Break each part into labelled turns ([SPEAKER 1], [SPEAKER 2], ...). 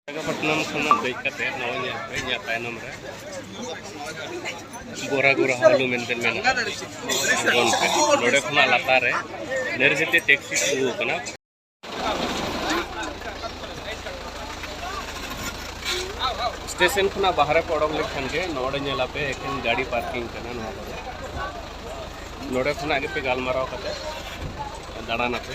[SPEAKER 1] ᱵᱤᱥᱟᱠᱷᱟᱯᱟᱴᱱᱟᱢ ᱠᱷᱚᱱᱟᱜ ᱫᱮᱡ ᱠᱟᱛᱮ ᱱᱚᱜᱼᱚᱭ ᱧᱮᱞ ᱯᱮ ᱤᱧᱟᱹᱜ ᱛᱟᱭᱱᱚᱢ ᱨᱮ ᱜᱳᱨᱟ ᱜᱳᱨᱟ ᱦᱟᱣᱞᱩ ᱢᱮᱱᱛᱮ ᱢᱮᱱᱟᱜᱼᱟ ᱟᱬᱜᱚᱱ ᱯᱮ ᱱᱚᱰᱮ ᱠᱷᱚᱱᱟᱜ ᱞᱟᱛᱟᱨ ᱨᱮ ᱱᱮᱨᱡᱮᱛᱮ ᱴᱮᱠᱥᱤ ᱛᱤᱸᱜᱩ ᱟᱠᱟᱱᱟ ᱥᱴᱮᱥᱚᱱ ᱠᱷᱚᱱᱟᱜ ᱵᱟᱦᱨᱮ ᱯᱮ ᱚᱰᱚᱠ ᱞᱮᱠᱷᱟᱱ ᱜᱮ ᱱᱚᱰᱮ ᱧᱮᱞᱟᱯᱮ ᱮᱠᱷᱮᱱ ᱜᱟᱹᱰᱤ ᱯᱟᱨᱠᱤᱝ ᱠᱟᱱᱟ ᱱᱚᱣᱟ ᱠᱚᱫᱚ ᱱᱚᱰᱮ ᱠᱷᱚᱱᱟᱜ ᱜᱮᱯᱮ ᱜᱟᱞᱢᱟᱨᱟᱣ ᱠᱟᱛᱮ ᱫᱟᱬᱟᱱᱟᱯᱮ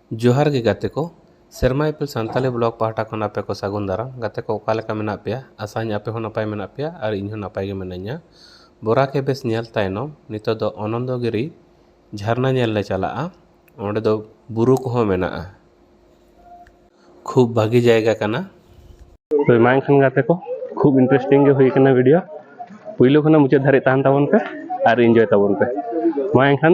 [SPEAKER 1] ᱡᱚᱦᱟᱨ ᱜᱮ ᱜᱟᱛᱮ ᱠᱚ ᱥᱮᱨᱢᱟ ᱤᱯᱤᱞ ᱥᱟᱱᱛᱟᱲᱤ ᱵᱞᱚᱜᱽ ᱯᱟᱦᱴᱟ ᱠᱷᱚᱱ ᱟᱯᱮ ᱠᱚ ᱥᱟᱹᱜᱩᱱ ᱫᱟᱨᱟᱢ ᱜᱟᱛᱮ ᱠᱚ ᱚᱠᱟ ᱞᱮᱠᱟ ᱢᱮᱱᱟᱜ ᱯᱮᱭᱟ ᱟᱥᱟᱭᱟᱹᱧ ᱟᱯᱮ ᱦᱚᱸ ᱱᱟᱯᱟᱭ ᱢᱮᱱᱟᱜ ᱯᱮᱭᱟ ᱟᱨ ᱤᱧ ᱦᱚᱸ ᱱᱟᱯᱟᱭ ᱜᱮ ᱢᱤᱱᱟᱹᱧᱟ ᱵᱚᱨᱟ ᱠᱮ ᱵᱮᱥ ᱧᱮᱞ ᱛᱟᱭᱱᱚᱢ ᱱᱤᱛᱚᱜ ᱫᱚ ᱚᱱᱚᱱᱫᱚ ᱜᱤᱨᱤ ᱡᱷᱟᱨᱱᱟ ᱧᱮᱞ ᱞᱮ ᱪᱟᱞᱟᱜᱼᱟ ᱚᱸᱰᱮ ᱫᱚ ᱵᱩᱨᱩ ᱠᱚᱦᱚᱸ ᱢᱮᱱᱟᱜᱼᱟ ᱠᱷᱩᱵ ᱵᱷᱟᱹᱜᱤ ᱡᱟᱭᱜᱟ ᱠᱟᱱᱟ ᱛᱚ ᱢᱟ ᱮᱱᱠᱷᱟᱱ ᱜᱟᱛᱮ ᱠᱚ ᱠᱷᱩᱵ ᱤᱱᱴᱟᱨᱮᱥᱴᱤᱝ ᱜᱮ ᱦᱩᱭ ᱠᱟᱱᱟ ᱵᱷᱤᱰᱤᱭᱳ ᱯᱩᱭᱞᱩ ᱠᱷᱚᱱᱟᱜ ᱢᱩᱪᱟᱹᱫ ᱫᱷᱟᱹᱨᱤᱡ ᱛᱟᱦᱮᱱ ᱛᱟᱵᱚᱱ ᱯᱮ ᱟᱨ ᱤᱱᱡᱚᱭ ᱛᱟᱵᱚᱱ ᱯᱮ ᱢᱟ ᱮᱱᱠᱷᱟᱱ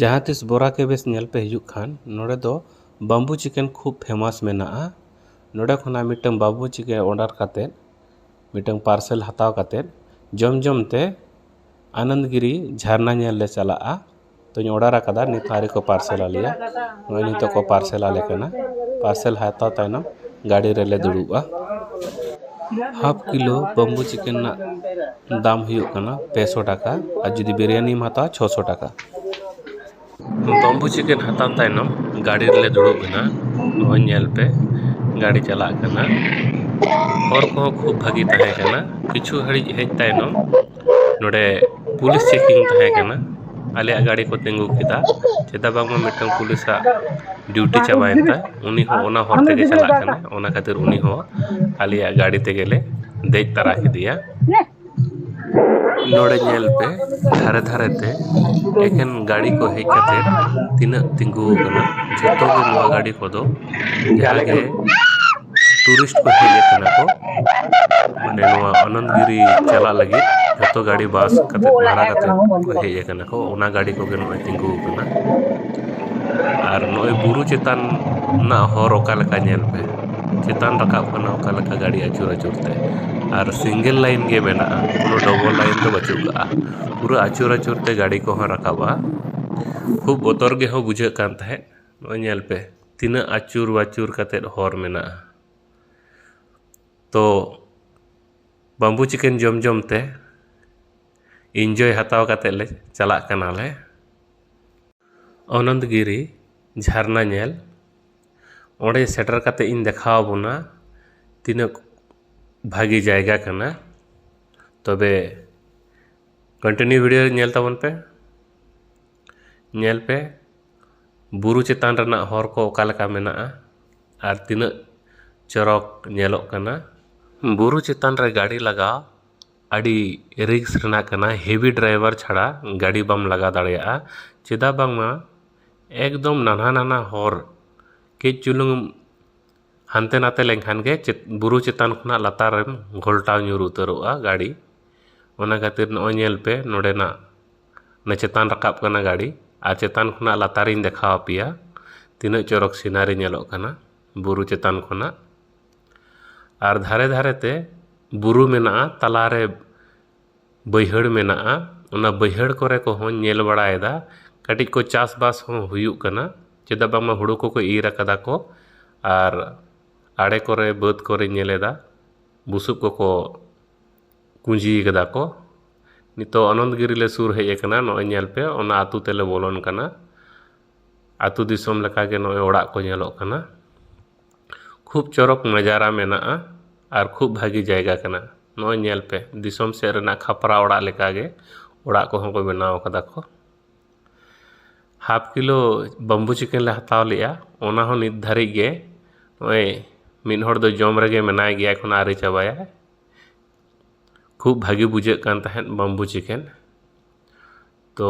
[SPEAKER 1] ᱡᱟᱦᱟᱸ ᱛᱤᱥ ᱵᱚᱨᱟ ᱠᱮᱵᱮᱥ ᱧᱮᱞ ᱯᱮ ᱦᱤᱡᱩᱜ ᱠᱷᱟᱱ ᱱᱚᱰᱮ ᱫᱚ ᱵᱟᱢᱵᱩ ᱪᱤᱠᱮᱱ ᱠᱷᱩᱵ ᱯᱷᱮᱢᱟᱥ ᱢᱮᱱᱟᱜᱼᱟ ᱱᱚᱰᱮ ᱠᱷᱚᱱᱟᱜ ᱢᱤᱫᱴᱟᱝ ᱵᱟᱢᱵᱩ ᱪᱤᱠᱮ ᱚᱰᱟᱨ ᱠᱟᱛᱮ ᱢᱤᱫᱴᱟᱝ ᱯᱟᱨᱥᱮᱞ ᱦᱟᱛᱟᱣ ᱠᱟᱛᱮ ᱡᱚᱢ ᱡᱚᱢ ᱛᱮ ᱟᱱᱚᱱᱫᱽ ᱜᱤᱨᱤ ᱡᱷᱟᱨᱱᱟ ᱧᱮᱞ ᱞᱮ ᱪᱟᱞᱟᱜᱼᱟ ᱛᱚᱧ ᱚᱰᱟᱨ ᱟᱠᱟᱫᱟ ᱱᱤᱛ ᱦᱚᱸ ᱟᱹᱣᱨᱤ ᱠᱚ ᱯᱟᱨᱥᱮᱞ ᱟᱞᱮᱭᱟ ᱱᱚᱜᱼᱚᱭ ᱱᱤᱛᱚᱜ ᱠᱚ ᱯᱟᱨᱥᱮᱞ ᱟᱞᱮ ᱠᱟᱱᱟ ᱯᱟᱨᱥᱮᱞ ᱦᱟᱛᱟᱣ ᱛᱟᱭᱱᱚᱢ ᱜᱟᱹᱰᱤ ᱨᱮᱞᱮ ᱫᱩᱲᱩᱵᱼᱟ ᱦᱟᱯᱷ ᱠᱤᱞᱳ ᱵᱟᱢᱵᱩ ᱪᱤᱠᱮᱱ ᱨᱮᱱᱟᱜ ᱫᱟᱢ ᱦᱩᱭᱩᱜ ᱠᱟᱱᱟ ᱯᱮ ᱥᱚ ᱴᱟᱠᱟ ᱟᱨ ᱡᱩᱫᱤ ᱵᱤᱨᱭᱟᱱᱤᱢ ᱦᱟᱛᱟᱣᱟ ᱪᱷᱚ ᱥᱚ ᱴᱟᱠᱟ ᱵᱟᱢᱵᱩ ᱪᱤᱠᱮᱱ ᱦᱟᱛᱟᱣ ᱛᱟᱭᱱᱚᱢ ᱜᱟᱹᱰᱤ ᱨᱮᱞᱮ ᱫᱩᱲᱩᱵ ᱮᱱᱟ ᱱᱚᱜᱼᱚᱭ ᱧᱮᱞ ᱯᱮ ᱜᱟᱹᱰᱤ ᱪᱟᱞᱟᱜ ᱠᱟᱱᱟ ᱦᱚᱨ ᱠᱚᱦᱚᱸ ᱠᱷᱩᱵ ᱵᱷᱟᱹᱜᱤ ᱛᱟᱦᱮᱸ ᱠᱟᱱᱟ ᱠᱤᱪᱷᱩ ᱜᱷᱟᱹᱲᱤᱡ ᱦᱮᱡ ᱛᱟᱭᱱᱚᱢ ᱱᱚᱰᱮ ᱯᱩᱞᱤᱥ ᱪᱮᱠᱤᱝ ᱛᱟᱦᱮᱸ ᱠᱟᱱᱟ ᱟᱞᱮᱭᱟᱜ ᱜᱟᱹᱰᱤ ᱠᱚ ᱛᱤᱸᱜᱩ ᱠᱮᱫᱟ ᱪᱮᱫᱟᱜ ᱵᱟᱝᱢᱟ ᱢᱤᱫᱴᱟᱱ ᱯᱩᱞᱤᱥᱟᱜ ᱰᱤᱭᱩᱴᱤ ᱪᱟᱵᱟᱭᱮᱱ ᱛᱟᱭ ᱩᱱᱤ ᱦᱚᱸ ᱚᱱᱟ ᱦᱚᱨ ᱛᱮᱜᱮ ᱪᱟᱞᱟᱜ ᱠᱟᱱᱟᱭ ᱚᱱᱟ ᱠᱷᱟᱹᱛᱤᱨ ᱩᱱᱤ ᱦᱚᱸ ᱟᱞᱮᱭᱟᱜ ᱜᱟᱹᱰᱤ ᱛᱮᱜᱮ ᱞᱮ ᱫᱮᱡ ᱛᱟᱨᱟ ᱠᱮᱫᱮᱭᱟ ᱱᱚᱰᱮ ᱧᱮᱞ ᱯᱮ ᱫᱷᱟᱨᱮ ᱫᱷᱟᱨᱮ ᱛᱮ ᱮᱠᱮᱱ ᱜᱟᱹᱰᱤ ᱠᱚ ᱦᱮᱡ ᱠᱟᱛᱮ ᱛᱤᱱᱟᱹᱜ ᱛᱤᱸᱜᱩ ᱟᱠᱟᱱᱟ ᱡᱚᱛᱚ ᱜᱮ ᱱᱚᱣᱟ ᱜᱟᱹᱰᱤ ᱠᱚᱫᱚ ᱡᱟᱦᱟᱸ ᱜᱮ ᱴᱩᱨᱤᱥᱴ ᱠᱚ ᱦᱮᱡ ᱠᱟᱱᱟ ᱠᱚ ᱢᱟᱱᱮ ᱱᱚᱣᱟ ᱟᱱᱚᱱᱫᱽ ᱜᱤᱨᱤ ᱪᱟᱞᱟᱜ ᱞᱟᱹᱜᱤᱫ ᱡᱚᱛᱚ ᱜᱟᱹᱰᱤ ᱵᱟᱥ ᱠᱟᱛᱮᱫ ᱵᱷᱟᱲᱟ ᱠᱟᱛᱮᱫ ᱠᱚ ᱦᱮᱡ ᱠᱟᱱᱟ ᱠᱚ ᱚᱱᱟ ᱜᱟᱹᱰᱤ ᱠᱚᱜᱮ ᱱᱚᱜᱼᱚᱸᱭ ᱛᱤᱸᱜᱩ ᱟᱠᱟᱱᱟ ᱟᱨ ᱱᱚᱜᱼᱚᱸᱭ ᱵᱩᱨᱩ ᱪᱮᱛᱟᱱ ᱨᱮᱱᱟᱜ ᱦᱚᱨ ᱚᱠᱟ ᱞᱮᱠᱟ ᱧᱮᱞ ᱯᱮ ᱪᱮᱛᱟᱱ ᱨᱟᱠᱟᱵ ᱠᱟᱱᱟ ᱚᱠᱟ ᱞᱮᱠᱟ ᱜᱟᱹᱰᱤ ᱟᱹᱪᱩᱨ ᱟᱹᱪᱩᱨ ᱛᱮ ᱟᱨ ᱥᱤᱝᱜᱮᱞ ᱞᱟᱹᱭᱤᱱ ᱜᱮ ᱢᱮᱱᱟᱜᱼᱟ ᱠᱳᱱᱳ ᱰᱚᱵᱚᱞ ᱞᱟᱹᱭᱤᱱ ᱫᱚ ᱵᱟᱹᱪᱩᱜ ᱠᱟᱜᱼᱟ ᱯᱩᱨᱟᱹ ᱟᱹᱪᱩᱨ ᱟᱹᱪᱩᱨ ᱛᱮ ᱜᱟᱹᱰᱤ ᱠᱚᱦᱚᱸ ᱨᱟᱠᱟᱵᱼᱟ ᱠᱷᱩᱵ ᱵᱚᱛᱚᱨ ᱜᱮᱦᱚᱸ ᱵᱩᱡᱷᱟᱹᱜ ᱠᱟᱱ ᱛᱟᱦᱮᱸᱫ ᱱᱚᱜᱼᱚᱭ ᱧᱮᱞ ᱯᱮ ᱛᱤᱱᱟᱹᱜ ᱟᱹᱪᱩᱨ ᱵᱟᱹᱪᱩᱨ ᱠᱟᱛᱮᱫ ᱦᱚᱨ ᱢᱮᱱᱟᱜᱼᱟ ᱛᱚ ᱵᱟᱢᱵᱩ ᱪᱤᱠᱮᱱ ᱡᱚᱢ ᱡᱚᱢ ᱛᱮ ᱤᱱᱡᱚᱭ ᱦᱟᱛᱟᱣ ᱠᱟᱛᱮᱫ ᱞᱮ ᱪᱟᱞᱟᱜ ᱠᱟᱱᱟ ᱞᱮ ᱚᱱᱚᱱᱛ ᱜᱤᱨᱤ ᱡᱷᱟᱨᱱᱟ ᱧᱮᱞ ᱚᱸᱰᱮ ᱥᱮᱴᱮᱨ ᱠᱟᱛᱮᱫ ᱤᱧ ᱫᱮᱠᱷᱟᱣ ᱟᱵᱚᱱᱟ ᱛᱤᱱᱟᱹᱜ ᱵᱷᱟᱹᱜᱤ ᱡᱟᱭᱜᱟ ᱠᱟᱱᱟ ᱛᱚᱵᱮ ᱠᱚᱱᱴᱤᱱᱤᱭᱩ ᱵᱷᱤᱰᱤᱭᱳ ᱧᱮᱞ ᱛᱟᱵᱚᱱ ᱯᱮ ᱧᱮᱞ ᱯᱮ ᱵᱩᱨᱩ ᱪᱮᱛᱟᱱ ᱨᱮᱱᱟᱜ ᱦᱚᱨ ᱠᱚ ᱚᱠᱟ ᱞᱮᱠᱟ ᱢᱮᱱᱟᱜᱼᱟ ᱟᱨ ᱛᱤᱱᱟᱹᱜ ᱪᱚᱨᱚᱠ ᱧᱮᱞᱚᱜ ᱠᱟᱱᱟ ᱵᱩᱨᱩ ᱪᱮᱛᱟᱱ ᱨᱮ ᱜᱟᱹᱰᱤ ᱞᱟᱜᱟ ᱟᱹᱰᱤ ᱨᱤᱠᱥ ᱨᱮᱱᱟᱜ ᱠᱟᱱᱟ ᱦᱮᱵᱷᱤ ᱰᱨᱟᱭᱵᱷᱟᱨ ᱪᱷᱟᱲᱟ ᱜᱟᱹᱰᱤ ᱵᱟᱢ ᱞᱟᱜᱟ ᱫᱟᱲᱮᱭᱟᱜᱼᱟ ᱪᱮᱫᱟᱜ ᱵᱟᱝᱢᱟ ᱮᱠᱫᱚᱢ ᱱᱟᱱᱦᱟ ᱱᱟᱱᱦᱟ ᱦᱚᱨ ᱠᱟᱹᱡ ᱪᱩᱞᱩᱝ ᱮᱢ ᱦᱟᱱᱛᱮ ᱱᱟᱛᱮ ᱞᱮᱱᱠᱷᱟᱱ ᱜᱮ ᱵᱩᱨᱩ ᱪᱮᱛᱟᱱ ᱠᱷᱚᱱᱟᱜ ᱞᱟᱛᱟᱨ ᱨᱮᱢ ᱜᱷᱚᱞᱴᱟᱣ ᱧᱩᱨ ᱩᱛᱟᱹᱨᱚᱜᱼᱟ ᱜᱟᱹᱰᱤ ᱚᱱᱟ ᱠᱷᱟᱹᱛᱤᱨ ᱱᱚᱜᱼᱚᱭ ᱧᱮᱞ ᱯᱮ ᱱᱚᱰᱮᱱᱟᱜ ᱚᱱᱟ ᱪᱮᱛᱟᱱ ᱨᱟᱠᱟᱵ ᱠᱟᱱᱟ ᱜᱟᱹᱰᱤ ᱟᱨ ᱪᱮᱛᱟᱱ ᱠᱷᱚᱱᱟᱜ ᱞᱟᱛᱟᱨᱤᱧ ᱫᱮᱠᱷᱟᱣ ᱟᱯᱮᱭᱟ ᱛᱤᱱᱟᱹᱜ ᱪᱚᱨᱚᱠ ᱥᱤᱱᱟᱨᱤ ᱧᱮᱞᱚᱜ ᱠᱟᱱᱟ ᱵᱩᱨᱩ ᱪᱮᱛᱟᱱ ᱠᱷᱚᱱᱟᱜ ᱟᱨ ᱫᱷᱟᱨᱮ ᱫᱷᱟᱨᱮᱛᱮ ᱵᱩᱨᱩ ᱢᱮᱱᱟᱜᱼᱟ ᱛᱟᱞᱟᱨᱮ ᱵᱟᱹᱭᱦᱟᱹᱲ ᱢᱮᱱᱟᱜᱼᱟ ᱚᱱᱟ ᱵᱟᱹᱭᱦᱟᱹᱲ ᱠᱚᱨᱮ ᱠᱚᱦᱚᱸᱧ ᱧᱮᱞ ᱵᱟᱲᱟᱭᱮᱫᱟ ᱠᱟᱹᱴᱤᱡ ᱠᱚ ᱪᱟᱥᱵᱟᱥ ᱦᱚᱸ ᱦᱩᱭᱩᱜ ᱠᱟᱱᱟ ᱪᱮᱫᱟᱜ ᱵᱟᱝᱢᱟ ᱦᱩᱲᱩ ᱠᱚᱠᱚ ᱤᱨ ᱠᱟᱫᱟ ᱠᱚ ᱟᱨ ᱟᱲᱮ ᱠᱚᱨᱮ ᱵᱟᱹᱫᱽ ᱠᱚᱨᱮᱧ ᱧᱮᱞᱮᱫᱟ ᱵᱩᱥᱩᱵ ᱠᱚᱠᱚ ᱠᱩᱸᱡᱤ ᱠᱟᱫᱟ ᱠᱚ ᱱᱤᱛᱚᱜ ᱟᱱᱚᱱᱫᱽ ᱜᱤᱨᱤ ᱞᱮ ᱥᱩᱨ ᱦᱮᱡ ᱟᱠᱟᱱᱟ ᱱᱚᱜᱼᱚᱭ ᱧᱮᱞ ᱯᱮ ᱚᱱᱟ ᱟᱹᱛᱩ ᱛᱮᱞᱮ ᱵᱚᱞᱚᱱ ᱠᱟᱱᱟ ᱟᱹᱛᱩ ᱫᱤᱥᱚᱢ ᱞᱮᱠᱟ ᱜᱮ ᱱᱚᱜᱼᱚᱭ ᱚᱲᱟᱜ ᱠᱚ ᱧᱮᱞᱚᱜ ᱠᱟᱱᱟ ᱠᱷᱩᱵ ᱪᱚᱨᱚᱠ ᱱᱟᱡᱟᱨᱟ ᱢᱮᱱᱟᱜᱼᱟ ᱟᱨ ᱠᱷᱩᱵ ᱵᱷᱟᱹᱜᱤ ᱡᱟᱭᱜᱟ ᱠᱟᱱᱟ ᱱᱚᱜᱼᱚᱭ ᱧᱮᱞ ᱯᱮ ᱫᱤᱥᱚᱢ ᱥᱮᱫ ᱨᱮᱱᱟᱜ ᱠᱷᱟᱯᱨᱟ ᱚᱲᱟᱜ ᱞᱮᱠᱟ ᱜᱮ ᱚᱲᱟᱜ ᱠᱚᱦᱚᱸ ᱠᱚ ᱵᱮᱱᱟᱣ ᱠᱟᱫᱟ ᱠᱚ ᱦᱟᱯ ᱠᱤᱞᱳ ᱵᱟᱢᱵᱩ ᱪᱤᱠᱮᱱ ᱞᱮ ᱦᱟᱛᱟᱣ ᱞᱮᱜᱼᱟ ᱚᱱᱟ ᱦᱚᱸ ᱱᱤᱛ ᱫᱷᱟᱹᱨᱤᱡ ᱜᱮ ᱱᱚᱜᱼᱚᱭ ᱢᱤᱫ ᱦᱚᱲ ᱫᱚ ᱡᱚᱢ ᱨᱮᱜᱮ ᱢᱮᱱᱟᱭ ᱜᱮᱭᱟ ᱮᱠᱷᱚᱱᱚ ᱟᱹᱣᱨᱤ ᱪᱟᱵᱟᱭᱟᱭ ᱠᱷᱩᱵ ᱵᱷᱟᱜᱮ ᱵᱩᱡᱷᱟᱹᱜ ᱠᱟᱱ ᱛᱟᱦᱮᱸᱫ ᱵᱟᱢᱵᱩ ᱪᱤᱠᱮᱱ ᱛᱚ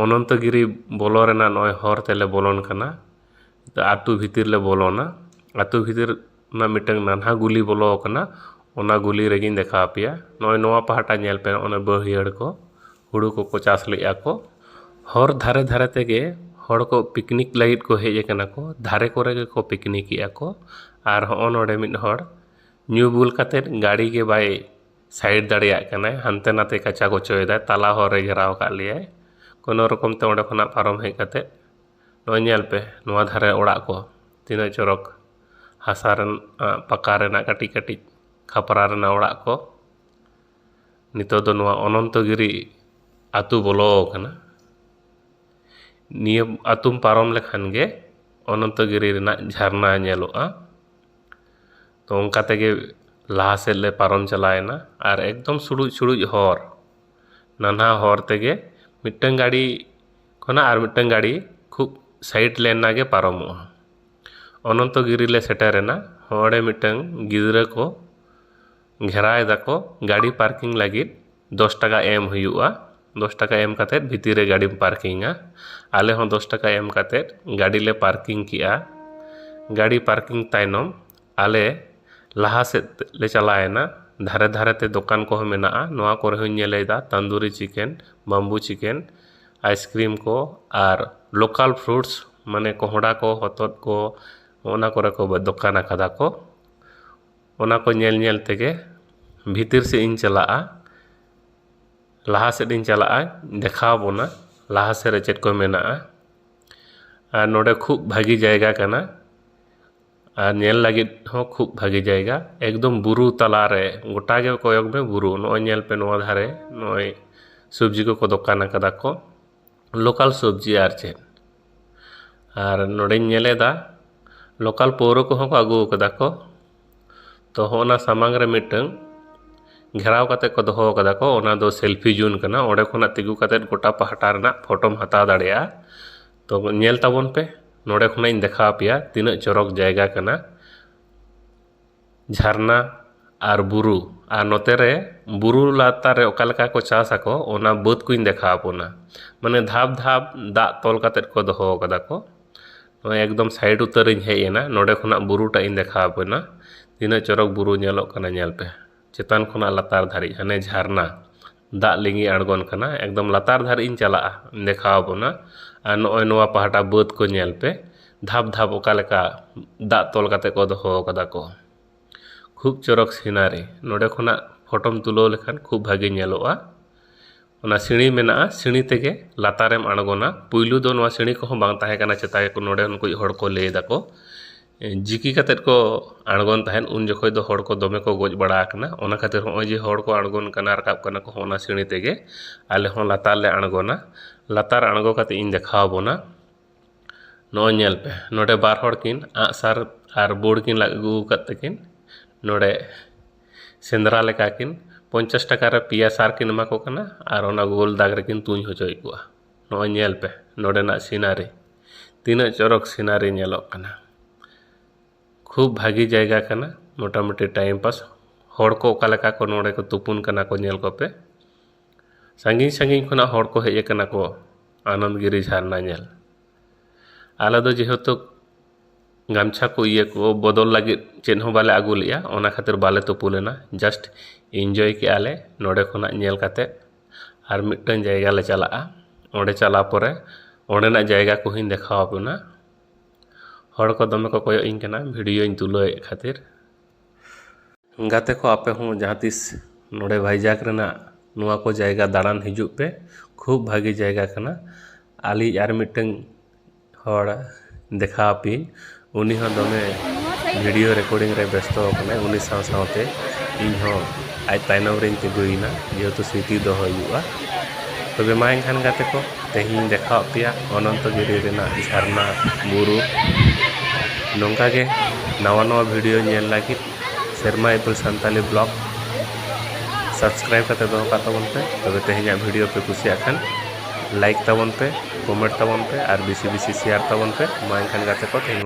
[SPEAKER 1] ᱚᱱᱚᱱᱛᱚ ᱜᱤᱨᱤ ᱵᱚᱞᱚ ᱨᱮᱱᱟᱜ ᱱᱚᱜᱼᱚᱭ ᱦᱚᱨ ᱛᱮᱞᱮ ᱵᱚᱞᱚᱱ ᱠᱟᱱᱟ ᱛᱚ ᱟᱛᱳ ᱵᱷᱤᱛᱤᱨ ᱞᱮ ᱵᱚᱞᱚᱱᱟ ᱟᱛᱳ ᱵᱷᱤᱛᱤᱨ ᱨᱮᱱᱟᱜ ᱢᱤᱫᱴᱟᱝ ᱱᱟᱱᱦᱟ ᱜᱩᱞᱤ ᱵᱚᱞᱚ ᱟᱠᱟᱱᱟ ᱚᱱᱟ ᱜᱩᱞᱤ ᱨᱮᱜᱮᱧ ᱫᱮᱠᱷᱟᱣ ᱟᱯᱮᱭᱟ ᱱᱚᱜᱼᱚᱭ ᱱᱚᱣᱟ ᱯᱟᱦᱴᱟ ᱧᱮᱞ ᱯᱮ ᱚᱱᱟ ᱵᱟᱹᱭᱦᱟᱹᱲ ᱠᱚ ᱦᱩᱲᱩ ᱠᱚᱠᱚ ᱪᱟᱥ ᱞᱮᱫᱼᱟ ᱠᱚ ᱦᱚᱨ ᱫᱷᱟᱨᱮ ᱫᱷᱟᱨᱮ ᱛᱮᱜᱮ ᱦᱚᱲ ᱠᱚ ᱯᱤᱠᱱᱤᱠ ᱞᱟᱹᱜᱤᱫ ᱠᱚ ᱦᱮᱡ ᱟᱠᱟᱱᱟ ᱠᱚ ᱫᱷᱟᱨᱮ ᱠᱚᱨᱮ ᱜᱮᱠᱚ ᱯᱤᱠᱱᱤᱠᱮᱫᱼᱟ ᱠᱚ ᱟᱨ ᱦᱚᱸᱜᱼᱚ ᱱᱚᱰᱮ ᱢᱤᱫ ᱦᱚᱲ ᱧᱩ ᱵᱩᱞ ᱠᱟᱛᱮᱫ ᱜᱟᱹᱰᱤ ᱜᱮ ᱵᱟᱭ ᱥᱟᱭᱤᱰ ᱫᱟᱲᱮᱭᱟᱜ ᱠᱟᱱᱟᱭ ᱦᱟᱱᱛᱮ ᱱᱟᱛᱮ ᱠᱟᱪᱟ ᱠᱚᱪᱚᱭᱮᱫᱟᱭ ᱛᱟᱞᱟ ᱦᱚᱨ ᱨᱮᱭ ᱜᱷᱮᱨᱟᱣ ᱠᱟᱜ ᱞᱮᱭᱟᱭ ᱠᱳᱱᱳ ᱨᱚᱠᱚᱢ ᱛᱮ ᱚᱸᱰᱮ ᱠᱷᱚᱱᱟᱜ ᱯᱟᱨᱚᱢ ᱦᱮᱡ ᱠᱟᱛᱮᱫ ᱱᱚᱜᱼᱚᱭ ᱧᱮᱞ ᱯᱮ ᱱᱚᱣᱟ ᱫᱷᱟᱨᱮ ᱚᱲᱟᱜ ᱠᱚ ᱛᱤᱱᱟᱹᱜ ᱪᱚᱨᱚᱠ ᱦᱟᱥᱟ ᱨᱮᱱ ᱯᱟᱠᱟ ᱨᱮᱱᱟᱜ ᱠᱟᱹᱴᱤᱡ ᱠᱟᱹᱴᱤᱡ ᱠᱷᱟᱯᱨᱟ ᱨᱮᱱᱟᱜ ᱚᱲᱟᱜ ᱠᱚ ᱱᱤᱛᱚᱜ ᱫᱚ ᱱᱚᱣᱟ ᱚᱱᱚᱱᱛᱚ ᱜᱤᱨᱤ ᱟᱹᱛᱩ ᱵᱚᱞᱚ ᱠᱟᱱᱟ ᱱᱤᱭᱟᱹ ᱟᱹᱛᱩᱢ ᱯᱟᱨᱚᱢ ᱞᱮᱠᱷᱟᱱ ᱜᱮ ᱚᱱᱚᱱᱛᱚ ᱜᱤᱨᱤ ᱨᱮᱱᱟᱜ ᱡᱷᱟᱨᱱᱟ ᱧᱮᱞᱚᱜᱼᱟ ᱛᱚ ᱚᱱᱠᱟ ᱛᱮᱜᱮ ᱞᱟᱦᱟ ᱥᱮᱫ ᱞᱮ ᱯᱟᱨᱚᱢ ᱪᱟᱞᱟᱣᱮᱱᱟ ᱟᱨ ᱮᱠᱫᱚᱢ ᱥᱩᱲᱩᱡ ᱥᱩᱲᱩᱡ ᱦᱚᱨ ᱱᱟᱱᱦᱟ ᱦᱚᱨ ᱛᱮᱜᱮ ᱢᱤᱫᱴᱟᱹᱝ ᱜᱟᱹᱰᱤ ᱠᱷᱚᱱᱟᱜ ᱟᱨ ᱢᱤᱫᱴᱟᱹᱝ ᱜᱟᱹᱰᱤ ᱠᱷᱩᱵ ᱥᱟᱭᱤᱰ ᱞᱮᱱ ᱮᱱᱟᱝ ᱜᱮ ᱯᱟᱨᱚᱢᱚᱜᱼᱟ ᱚᱱᱚᱱᱛᱚ ᱜᱤᱨᱤ ᱞᱮ ᱥᱮᱴᱮᱨᱮᱱᱟ ᱦᱚᱨ ᱨᱮ ᱢᱤᱫᱴᱟᱹᱝ ᱜᱤᱫᱽᱨᱟᱹ ᱠᱚ ᱜᱷᱮᱨᱟᱣ ᱮᱫᱟ ᱠᱚ ᱜᱟᱹᱰᱤ ᱯᱟᱨᱠᱤᱝ ᱞᱟᱹᱜᱤᱫ ᱫᱚᱥ ᱴᱟᱠᱟ ᱮᱢ ᱦᱩᱭᱩᱜᱼᱟ ᱫᱚᱥ ᱴᱟᱠᱟ ᱮᱢ ᱠᱟᱛᱮᱫ ᱵᱷᱤᱛᱤᱨ ᱨᱮ ᱜᱟᱹᱰᱤᱢ ᱯᱟᱨᱠᱤᱝᱟ ᱟᱞᱮ ᱦᱚᱸ ᱫᱚᱥ ᱴᱟᱠᱟ ᱮᱢ ᱠᱟᱛᱮᱫ ᱜᱟᱹᱰᱤ ᱞᱮ ᱯᱟᱨᱠᱤᱝ ᱠᱮᱜᱼᱟ ᱜᱟᱹᱰᱤ ᱯᱟᱨᱠᱤᱝ ᱛᱟᱭᱱᱚᱢ ᱟᱞᱮ ᱞᱟᱦᱟ ᱥᱮᱫ ᱞᱮ ᱪᱟᱞᱟᱣᱮᱱᱟ ᱫᱷᱟᱨᱮ ᱫᱷᱟᱨᱮ ᱛᱮ ᱫᱚᱠᱟᱱ ᱠᱚᱦᱚᱸ ᱢᱮᱱᱟᱜᱼᱟ ᱱᱚᱣᱟ ᱠᱚᱨᱮ ᱦᱚᱸᱧ ᱧᱮᱞᱮᱫᱟ tandoori chicken bamboo chicken ice cream ᱠᱚ ᱟᱨ ᱞᱳᱠᱟᱞ ᱯᱷᱨᱩᱴᱥ ᱢᱟᱱᱮ ᱠᱚᱦᱚᱸᱰᱟ ᱠᱚ ᱦᱚᱛᱚᱫ ᱠᱚ ᱚᱱᱟ ᱠᱚᱨᱮ ᱠᱚ ᱫᱚᱠᱟᱱ ᱟᱠᱟᱫᱟ ᱠᱚ ᱚᱱᱟ ᱠᱚ ᱧᱮᱞ ᱧᱮᱞ ᱛᱮᱜᱮ ᱵᱷᱤᱛᱤᱨ ᱥᱮᱫ ᱤᱧ ᱪᱟᱞᱟᱜᱼᱟ ᱞᱟᱦᱟ ᱥᱮᱫ ᱤᱧ ᱪᱟᱞᱟᱜᱼᱟ ᱫᱮᱠᱷᱟᱣ ᱵᱚᱱᱟ ᱞᱟᱦᱟ ᱥᱮᱫ ᱨᱮ ᱪᱮᱫ ᱠᱚ ᱢᱮᱱᱟᱜᱼᱟ ᱟᱨ ᱱᱚᱰᱮ ᱠᱷᱩᱵ ᱵᱷᱟᱹᱜᱤ ᱡᱟᱭᱜᱟ ᱠᱟᱱᱟ ᱟᱨ ᱧᱮᱞ ᱞᱟᱹᱜᱤᱫ ᱦᱚᱸ ᱠᱷᱩᱵ ᱵᱷᱟᱹᱜᱤ ᱡᱟᱭᱜᱟ ᱮᱠᱫᱚᱢ ᱵᱩᱨᱩ ᱛᱟᱞᱟ ᱨᱮ ᱜᱚᱴᱟ ᱜᱮ ᱠᱚᱭᱚᱜᱽ ᱢᱮ ᱵᱩᱨᱩ ᱱᱚᱜᱼᱚᱭ ᱧᱮᱞ ᱯᱮ ᱱᱚᱣᱟ ᱫᱷᱟᱨᱮ ᱱᱚᱜᱼᱚᱭ ᱥᱚᱵᱽᱡᱤ ᱠᱚᱠᱚ ᱫᱚᱠᱟᱱ ᱠᱟᱫᱟ ᱠᱚ ᱞᱳᱠᱟᱞ ᱥᱚᱵᱽᱡᱤ ᱟᱨ ᱪᱮᱫ ᱟᱨ ᱱᱚᱸᱰᱮᱧ ᱧᱮᱞᱮᱫᱟ ᱞᱳᱠᱟᱞ ᱯᱟᱹᱣᱨᱟᱹ ᱠᱚᱦᱚᱸ ᱠᱚ ᱟᱹᱜᱩ ᱠᱟᱫᱟ ᱠᱚ ᱛᱚ ᱦᱚᱸᱜᱼᱚ ᱱᱟ ᱥᱟᱢᱟᱝ ᱨᱮ ᱢᱤᱫᱴᱟᱹᱝ ᱜᱷᱮᱨᱟᱣ ᱠᱟᱛᱮᱫ ᱠᱚ ᱫᱚᱦᱚ ᱠᱟᱫᱟ ᱠᱚ ᱚᱱᱟ ᱫᱚ ᱥᱮᱞᱯᱷᱤ ᱡᱳᱱ ᱠᱟᱱᱟ ᱚᱸᱰᱮ ᱠᱷᱚᱱᱟᱜ ᱛᱤᱸᱜᱩ ᱠᱟᱛᱮᱫ ᱜᱚᱴᱟ ᱯᱟᱦᱴᱟ ᱨᱮᱱᱟᱜ ᱯᱷᱳᱴᱳᱢ ᱦᱟᱛᱟᱣ ᱫᱟᱲᱮᱭᱟᱜᱼᱟ ᱛᱚ ᱧᱮᱞ ᱛᱟᱵᱚᱱ ᱯᱮ ᱱᱚᱸᱰᱮ ᱠᱷᱚᱱᱟᱜ ᱤᱧ ᱫᱮᱠᱷᱟᱣ ᱯᱮᱭᱟ ᱛᱤᱱᱟᱹᱜ ᱪᱚᱨᱚᱠ ᱡᱟᱭᱜᱟ ᱠᱟᱱᱟ ᱡᱷᱟᱨᱱᱟ ᱟᱨ ᱵᱩᱨᱩ ᱟᱨ ᱱᱚᱛᱮ ᱨᱮ ᱵᱩᱨᱩ ᱞᱟᱛᱟᱨ ᱨᱮ ᱚᱠᱟ ᱞᱮᱠᱟ ᱠᱚ ᱪᱟᱥ ᱟᱠᱚ ᱚᱱᱟ ᱵᱟᱹᱫᱽ ᱠᱚᱧ ᱫᱮᱠᱷᱟᱣ ᱟᱵᱚᱱᱟ ᱢᱟᱱᱮ ᱫᱷᱟᱯ ᱫᱷᱟᱯ ᱫᱟᱜ ᱛᱚᱞ ᱠᱟᱛᱮᱫ ᱠᱚ ᱫᱚᱦᱚ ᱠᱟᱫᱟ ᱠᱚ ᱱᱚᱜᱼᱚᱸᱭ ᱮᱠᱫᱚᱢ ᱥᱟᱭᱤᱰ ᱩᱛᱟᱹᱨ ᱤᱧ ᱦᱮᱡ ᱮᱱᱟ ᱱᱚᱰᱮ ᱠᱷᱚᱱᱟᱜ ᱵᱩᱨᱩ ᱴᱟᱜ ᱤᱧ ᱫᱮᱠᱷᱟᱣ ᱟᱵᱮᱱᱟ ᱛᱤᱱᱟᱹᱜ ᱪᱚᱨᱚᱠ ᱵᱩᱨᱩ ᱧᱮᱞᱚᱜ ᱠᱟᱱᱟ ᱧᱮᱞ ᱯᱮ ᱪᱮᱛᱟᱱ ᱠᱷᱚᱱᱟᱜ ᱞᱟᱛᱟᱨ ᱫᱷᱟᱹᱨᱤᱡ ᱦᱟᱱᱮ ᱡᱷᱟᱨᱱᱟ ᱫᱟᱜ ᱞᱤᱸᱜᱤ ᱟᱬᱜᱚᱱ ᱠᱟᱱᱟ ᱮᱠᱫᱚᱢ ᱞᱟᱛᱟᱨ ᱫᱷᱟᱹᱨᱤᱡ ᱤᱧ ᱪᱟᱞᱟᱜᱼᱟ ᱫᱮᱠᱷᱟᱣ ᱟᱵᱚᱱᱟ ᱟᱨ ᱱᱚᱜᱼᱚᱭ ᱱᱚᱣᱟ ᱯᱟᱦᱴᱟ ᱵᱟᱹᱫᱽ ᱠᱚ ᱧᱮᱞ ᱯᱮ ᱫᱷᱟᱯ ᱫᱷᱟᱯ ᱚᱠᱟ ᱞᱮᱠᱟ ᱫᱟᱜ ᱛᱚᱞ ᱠᱟᱛᱮᱫ ᱠᱚ ᱫᱚᱦᱚ ᱠᱟᱫᱟ ᱠᱚ ᱠᱷᱩᱵ ᱪᱚᱨᱚᱠ ᱥᱤᱱᱟᱨᱤ ᱱᱚᱰᱮ ᱠᱷᱚᱱᱟᱜ ᱯᱷᱳᱴᱳᱢ ᱛᱩᱞᱟᱹᱣ ᱞᱮᱠᱷᱟᱱ ᱠᱷᱩᱵ ᱵᱷᱟᱹᱜᱤ ᱧᱮᱞᱚᱜᱼᱟ ᱚᱱᱟ ᱥᱤᱬᱤ ᱢᱮᱱᱟᱜᱼᱟ ᱥᱤᱬᱤ ᱛᱮᱜᱮ ᱞᱟᱛᱟᱨᱮᱢ ᱟᱬᱜᱚᱱᱟ ᱯᱳᱭᱞᱳ ᱫᱚ ᱱᱚᱣᱟ ᱥᱤᱬᱤ ᱠᱚᱦᱚᱸ ᱵᱟᱝ ᱛᱟᱦᱮᱸ ᱠᱟᱱᱟ ᱪᱮᱛᱟᱱ ᱨᱮᱠᱚ ᱱᱚᱰᱮᱱ ᱠᱚ ᱦᱚᱲ ᱠᱚ ᱞᱟᱹᱭ ᱫᱟᱠᱚ ᱡᱤᱠᱤ ᱠᱟᱛᱮᱫ ᱠᱚ ᱟᱬᱜᱚᱱ ᱛᱟᱦᱮᱸᱫ ᱩᱱ ᱡᱚᱠᱷᱚᱱ ᱫᱚ ᱦᱚᱲ ᱠᱚ ᱫᱚᱢᱮ ᱠᱚ ᱜᱚᱡ ᱵᱟᱲᱟ ᱟᱠᱟᱱᱟ ᱚᱱᱟ ᱠᱷᱟᱹᱛᱤᱨ ᱦᱚᱸᱜᱼᱚᱭ ᱡᱮ ᱦᱚᱲ ᱠᱚ ᱟᱬᱜᱚᱱ ᱠᱟᱱᱟ ᱨᱟᱠᱟᱵ ᱠᱟᱱᱟ ᱠᱚ ᱦᱚᱸᱜᱼᱚ ᱱᱟ ᱥᱤᱬᱤ ᱛᱮᱜᱮ ᱟᱞᱮ ᱦᱚᱸ ᱞᱟᱛᱟᱨ ᱞᱮ ᱟᱬᱜᱚᱱᱟ ᱞᱟᱛᱟᱨ ᱟᱬᱜᱚ ᱠᱟᱛᱮᱫ ᱤᱧ ᱫᱮᱠᱷᱟᱣ ᱵᱚᱱᱟ ᱱᱚᱜᱼᱚᱭ ᱧᱮᱞ ᱯᱮ ᱱᱚᱸᱰᱮ ᱵᱟᱨ ᱦᱚᱲ ᱠᱤᱱ ᱟᱸᱜ ᱥᱟᱨ ᱟᱨ ᱵᱳᱲ ᱠᱤᱱ ᱞᱟᱜ ᱟᱹᱜᱩ ᱟᱠᱟᱫ ᱛᱟᱹᱠᱤᱱ ᱱᱚᱸᱰᱮ ᱥᱮᱸᱫᱽᱨᱟ ᱞᱮᱠᱟ ᱠᱤᱱ ᱯᱚᱧᱪᱟᱥ ᱴᱟᱠᱟ ᱨᱮ ᱯᱮᱭᱟ ᱥᱟᱨ ᱠᱤᱱ ᱮᱢᱟ ᱠᱚ ᱠᱟᱱᱟ ᱟᱨ ᱚᱱᱟ ᱜᱳᱞ ᱫᱟᱜᱽ ᱨᱮᱠᱤᱱ ᱛᱩᱧ ᱦᱚᱪᱚᱭᱮᱫ ᱠᱚᱣᱟ ᱱᱚᱜᱼᱚᱭ ᱧᱮᱞ ᱯᱮ ᱱᱚᱰᱮᱱᱟᱜ ᱥᱤᱱᱟᱨᱤ ᱛᱤᱱᱟᱹᱜ ᱪᱚᱨᱚᱠ ᱥᱤᱱᱟᱨᱤ ᱧᱮᱞᱚᱜ ᱠᱟᱱᱟ ᱠᱷᱩᱵᱽ ᱵᱷᱟᱹᱜᱤ ᱡᱟᱭᱜᱟ ᱠᱟᱱᱟ ᱢᱚᱴᱟᱢᱩᱴᱤ ᱴᱟᱭᱤᱢ ᱯᱟᱥ ᱦᱚᱲ ᱠᱚ ᱚᱠᱟ ᱞᱮᱠᱟ ᱠᱚ ᱱᱚᱰᱮ ᱠᱚ ᱛᱩᱯᱩᱱ ᱠᱟᱱᱟ ᱠᱚ ᱧᱮᱞ ᱠᱚᱯᱮ ᱥᱟᱺᱜᱤᱧ ᱥᱟᱺᱜᱤᱧ ᱠᱷᱚᱱᱟᱜ ᱦᱚᱲ ᱠᱚ ᱦᱮᱡ ᱠᱟᱱᱟ ᱠᱚ ᱟᱱᱚᱱᱫᱽ ᱜᱤᱨᱤ ᱡᱷᱟᱨᱱᱟ ᱧᱮᱞ ᱟᱞᱮ ᱫᱚ ᱡᱮᱦᱮᱛᱩ ᱜᱟᱢᱪᱷᱟ ᱠᱚ ᱤᱭᱟᱹ ᱠᱚ ᱵᱚᱫᱚᱞ ᱞᱟᱹᱜᱤᱫ ᱪᱮᱫ ᱦᱚᱸ ᱵᱟᱞᱮ ᱟᱹᱜᱩ ᱞᱮᱜᱼᱟ ᱚᱱᱟ ᱠᱷᱟᱹᱛᱤᱨ ᱵᱟᱞᱮ ᱛᱩᱯᱩ ᱞᱮᱱᱟ ᱡᱟᱥᱴ ᱤᱱᱡᱚᱭ ᱠᱮᱜᱼᱟ ᱞᱮ ᱱᱚᱰᱮ ᱠᱷᱚᱱᱟᱜ ᱧᱮᱞ ᱠᱟᱛᱮᱫ ᱟᱨ ᱢᱤᱫᱴᱮᱱ ᱡᱟᱭᱜᱟ ᱞᱮ ᱪᱟᱞᱟᱜᱼᱟ ᱚᱸᱰᱮ ᱪᱟᱞᱟᱣ ᱯᱚᱨᱮ ᱚᱸᱰᱮᱱᱟᱜ ᱡᱟᱭᱜᱟ ᱠᱚᱦᱚᱸᱧ ᱫᱮᱠᱷᱟᱣ ᱟᱵᱚᱱᱟ ᱦᱚᱲ ᱠᱚ ᱫᱚᱢᱮ ᱠᱚ ᱠᱚᱭᱚᱜ ᱤᱧ ᱠᱟᱱᱟ ᱵᱷᱤᱰᱭᱳᱧ ᱛᱩᱞᱟᱹᱣᱮᱫ ᱠᱷᱟᱹᱛᱤᱨ ᱜᱟᱛᱮ ᱠᱚ ᱟᱯᱮ ᱦᱚᱸ ᱡᱟᱦᱟᱸ ᱛᱤᱥ ᱱᱚᱰᱮ ᱵᱷᱟᱭᱡᱟᱠ ᱨᱮᱱᱟᱜ ᱱᱚᱣᱟ ᱠᱚ ᱡᱟᱭᱜᱟ ᱫᱟᱬᱟᱱ ᱦᱤᱡᱩᱜ ᱯᱮ ᱠᱷᱩᱵ ᱵᱷᱟᱹᱜᱤ ᱡᱟᱭᱜᱟ ᱠᱟᱱᱟ ᱟᱹᱞᱤᱧ ᱟᱨ ᱢᱤᱫᱴᱟᱹᱝ ᱦᱚᱲ ᱫᱮᱠᱷᱟᱣ ᱟᱯᱮᱭᱟᱹᱧ ᱩᱱᱤ ᱦᱚᱸ ᱫᱚᱢᱮ ᱵᱷᱤᱰᱤᱭᱳ ᱨᱮᱠᱳᱰᱤᱝ ᱨᱮ ᱵᱮᱥᱛᱚ ᱟᱠᱟᱱᱟᱭ ᱩᱱᱤ ᱥᱟᱶ ᱥᱟᱶᱛᱮ ᱤᱧ ᱦᱚᱸ ᱟᱡ ᱛᱟᱭᱱᱚᱢ ᱨᱮᱧ ᱛᱤᱸᱜᱩᱭᱮᱱᱟ ᱡᱮᱦᱮᱛᱩ ᱥᱨᱤᱛᱤ ᱫᱚᱦᱚᱭ ᱦᱩᱭᱩᱜᱼᱟ ᱛᱚᱵᱮ ᱢᱟ ᱮᱱᱠᱷᱟᱱ ᱜᱟᱛᱮ ᱠᱚ ᱛᱮᱦᱮᱧᱤᱧ ᱫᱮᱠᱷᱟᱣ ᱟᱫ ᱯᱮᱭᱟ ᱚᱱᱚᱱᱛᱚ ᱜᱤᱨᱤ ᱨᱮᱱᱟᱜ ᱡᱷᱟᱨᱱᱟ ᱵᱩᱨᱩ ᱱᱚᱝᱠᱟ ᱜᱮ ᱱᱟᱣᱟ ᱱᱟᱣᱟ ᱵᱷᱤᱰᱤᱭᱳ ᱧᱮᱞ ᱞᱟᱹᱜᱤᱫ ᱥᱮᱨᱢᱟ ᱤᱯᱤᱞ ᱥᱟᱱᱛᱟᱞᱤ ᱵᱞᱚᱜᱽ ᱥᱟᱵᱥᱠᱨᱟᱭᱤᱵᱽ ᱠᱟᱛᱮ ᱫᱚᱦᱚ ᱠᱟᱜ ᱛᱟᱵᱚᱱ ᱯᱮ ᱛᱚᱵᱮ ᱛᱮᱦᱮᱧᱟᱜ ᱵᱷᱤᱰᱤᱭᱳ ᱯᱮ ᱠᱩᱥᱤᱭᱟᱜ ᱠᱷᱟᱱ ᱞᱟᱭᱤᱠ ᱛᱟᱵᱚᱱ ᱯᱮ ᱠᱚᱢᱮᱱᱴ ᱛᱟᱵᱚᱱ ᱯᱮ ᱟᱨ ᱵᱮᱥᱤ ᱵᱮᱥᱤ ᱥᱮᱭᱟᱨ ᱛᱟᱵᱚᱱ ᱯᱮ ᱢᱟ ᱮᱱᱠᱷᱟᱱ ᱜᱟᱛᱮ ᱠᱚ ᱛᱮᱦᱮᱧ